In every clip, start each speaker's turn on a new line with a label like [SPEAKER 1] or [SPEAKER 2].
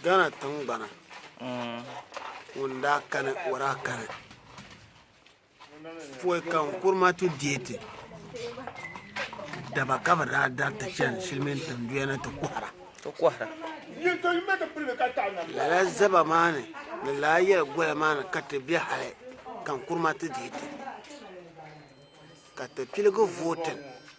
[SPEAKER 1] Ghana tingbana ŋun daa kani o daa kani pɔi ka Nkrumah ti deei ti daba ka bi daa dari ti chani Silimiin tinduya ni ti kɔhira ti kɔhira lala zaba maa ni ni laa yɛli goya maa ni ka ti be hali ka Nkrumah ti deei ti ka ti piligi vootin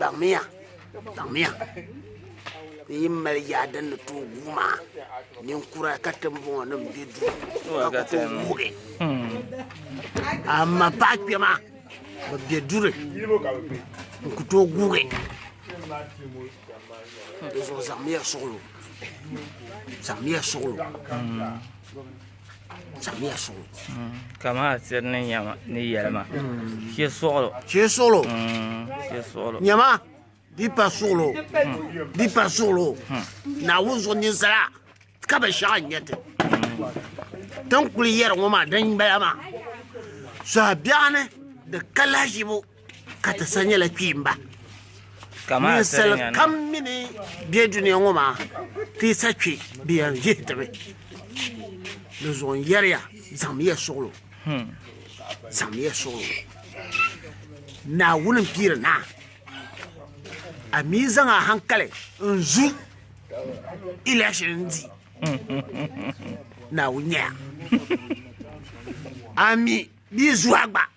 [SPEAKER 1] Baŋmiya, baŋmiya! N yi mali yaa din ni tooi guui maa, ninkura ka timbɔŋɔ nim bɛ duu ka ku tooi wuugi. Amaa paɣa kpɛma bi bɛ duri n ku tooi guugi. Di zuɣu zaŋmiya suɣilo, zaŋmiya suɣilo.
[SPEAKER 2] ka maa tiri ni nyɛma ni yɛlima shɛ suɣulo shɛ suɣulo shɛ suɣulo
[SPEAKER 1] nyɛma di pa suɣulo di pa suɣulo naawuni zuɣu ninsala ka bɛ shɛɣa nyɛ ti tin kuli yɛri ŋɔ maa din bala maa sɔhi biɛɣuni di ka lahiʒibu Ka ti sa nyɛla kpiimba.
[SPEAKER 2] Ninsal kam mi ni
[SPEAKER 1] be dunia ŋɔ maa ti yi sa kpi bɛ yɛn vihi ti mi. Di zuɣu n yɛri ya zaŋmiya suɣulo. Hmm. Zaŋmiya suɣulo. Naawuni n piiri naa. A mi zaŋ a hankali n zu election n di. Naawuni nyɛya. A mi di zuha gba.